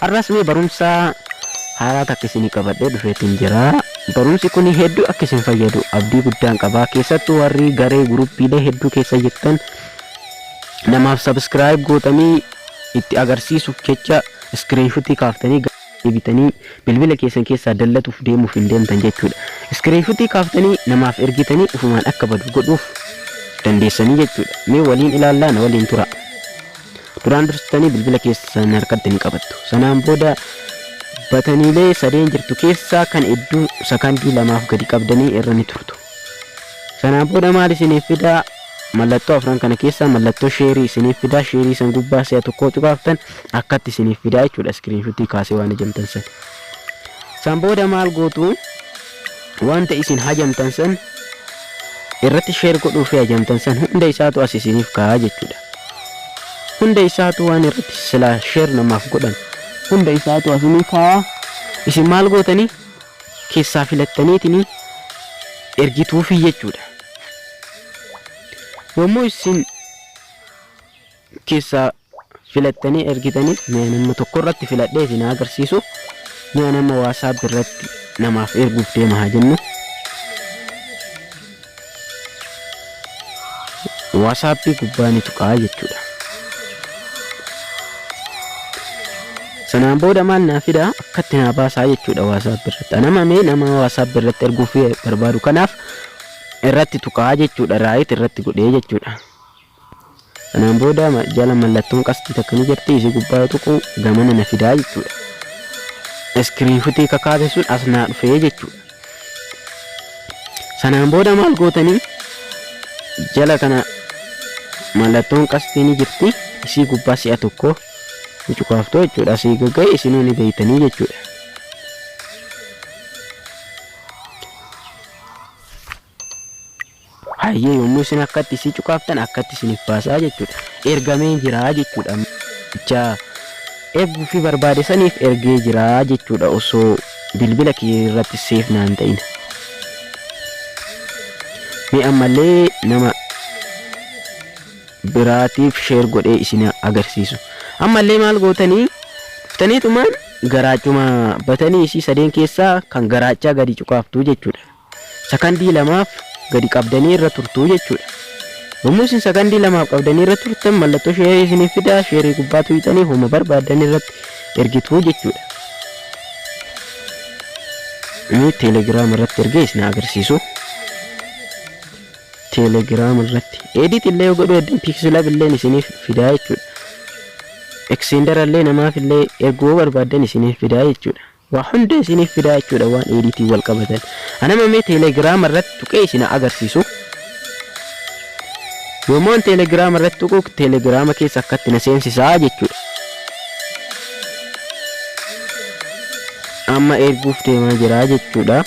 Har'as mee barumsa haaraa takka isinii qabadhee dhufeetiin jira. Barumsi kun hedduu akka isin fayyadu abdii guddaan qaba. Keessattuu warri garee guruppiilee hedduu keessa jirtan namaaf sabiskiraayib gootanii itti agarsiisuuf jecha iskiriinshuutii kaaftanii deebitanii bilbila keessan keessaa dallatuuf deemuuf hin deemtan jechuudha. Iskiriinshuutii kaaftanii namaaf ergitanii ufumaan akka badu godhuuf dandeessanii jechuudha. Mee waliin ilaallaa na waliin tura. Duraan dursitanii bilbila keessan harkatti ni qabattu. Sanaan booda bataniilee sadeen jirtu keessaa kan hedduu sakandii lamaaf gadi qabdanii irra ni turtu. Sanaan booda maal isiniif fidaa? Mallattoo afran kana keessaa mallattoo sheerii isiniif fidaa. Sheerii san gubbaa si'a tokkoo tuqaaftan akkatti isiniif fidaa jechuudha. Iskiriinshuutii kaasee waan ijamtan san. San booda maal gootu? Wanta isin hajamtan san irratti share godhuu fi hajamtan san hunda isaatu as isiniif kaa'a jechuudha. Hunda isaatu waan irratti silaa share namaaf godhan hunda isaatu asinii kaa'a. Isin maal gootanii keessaa filattaniitinii ergituufii jechuudha. Yommuu isin keessaa filattanii ergitaniif mee ani amma tokko irratti filadhee isin haa agarsiisu mee ani amma waasaap irratti namaaf erguuf deema haa jennu waasaappii gubbaa ni tuqaa jechuudha sanaan booda maal naa fidaa akkatti naa baasaa jechuudha waasaap irratti anama mee nama waasaap irratti erguuf barbaadu kanaaf irratti tuqaa jechuudha raayit irratti godhee jechuudha Kanaan booda jala mallattoon qasxii takka ni jirti isii gubbaa yoo tuqu gamana na fidaa jechuudha. Iskiriinfutii kakaase sun as naa dhufee jechuudha. Sanaan booda maal gootanii jala kana mallattoon qasxii ni jirti isii gubbaa si'a tokko ni cukaaftu jechuudha. Asii gagga'e isinuu ni beeytanii jechuudha. Hayyee yommuu isin akkatti isii cuqaaftan akkatti isiniif baasaa jechuudha. Ergamee jira jechuudha. Namicha erguufi barbaade saniif ergee jira jechuudha osoo bilbila kee irratti seef naan ta'in. Mee ammallee nama biraatiif sheer godhee isin agarsiisu. Ammallee maal gootanii dhuftaniitumaan garaachuma batanii isii sadeen keessaa kan garaachaa gadi cuqaaftuu jechuudha. sakandii lamaaf gadi qabdanii irra turtuu jechuudha. Yommuu isin sakandii lamaaf qabdanii irra turtan mallattoo sheerii isiniif fidaa sheerii gubbaa tuqxanii homa barbaadan irratti ergituu jechuudha. Inni teelegiraama irratti ergee isin agarsiisu. Teelegiraama irratti edit illee yoo godhu edin piiksilab illee isiniif fidaa jechuudha. Eksiindara illee namaaf illee erguu barbaadan isiniif fidaa jechuudha. Waa hunda isiniif fidaa jechuudha waan editing wal qabatan. Ana amma mee telegram irratti tuqee isin haa agarsiisu. Yommuun telegram irratti tuqu telegrama keessa akkatti na seensisaa jechuudha. Amma erguuf deemaa jira jechuudha.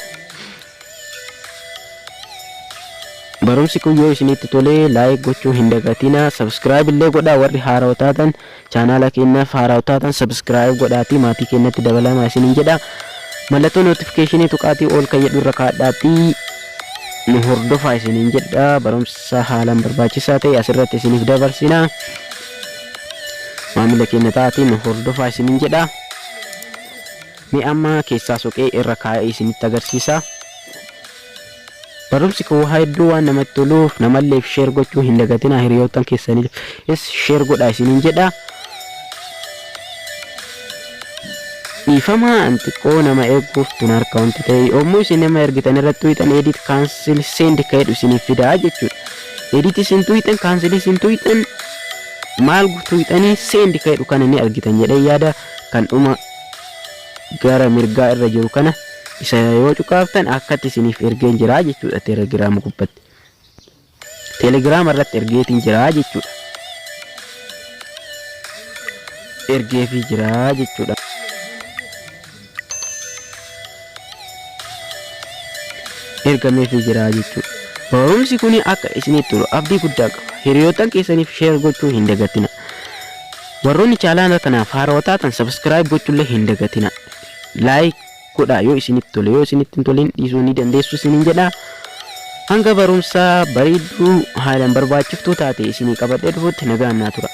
Barumsi kun yoo isinitti tolee laayik gochuu hin dagatinaa. Sabskiraayib illee godhaa warri haarawa taatan Chaanaala keennaaf haaraaw taatan subscribe godhaatii maatii keennatti dabalaamaa isiniin jedha. Mallattoo notification tuqaatii all kan jedhu irra kaadhaatii nu hordofaa isiniin jedha. Barumsa haalaan barbaachisaa ta'e asirratti isiniif dabarsina. Maamila keenya ta'aatii nu hordofaa isiniin jedha. Mee amma keessaa soqee irra kaa'ee isinitti agarsiisa. Barumsi koo hedduu waan namatti toluuf namalleef sheer gochuu hin dagatinaa hiriyoottan keessaniifis sheer godhaa isiniin jedha. Dhiifama an xiqqoo nama eeguuf tun harka wanti ta'e yommuu isin nama ergitan irratti tuyxan edit cancel send ka jedhu isiniif fidaa jechuudha. Edit isin tuyxan cancel isin tuyxan maal tuyxanii send ka jedhu kana ni argitan jedhee yaada kan dhuma gara mirgaa irra jiru kana isa yoo cuqaaftan akkatti isiniif ergeen jiraa jechuudha telegiraama gubbatti telegiraama irratti ergeetiin jiraa jechuudha ergeefii jiraa jechuudha ergameefii jiraa jechuudha barumsi kun akka isiniif tolu abdii guddaa qaba hiriyoottan keessaniif sheer gochuu hin dagatina Warroonni chaalaana kanaaf haarawa taatan subscribe gochuullee hin dagatina. Like godhaa yoo isinitti tole yoo isinitti hin tolin dhiisuu ni dandeessu isiniin jedha. Hanga barumsaa bareedduu haalaan barbaachiftuu taate isinii qabadhee dhufutti nagaan naa tura.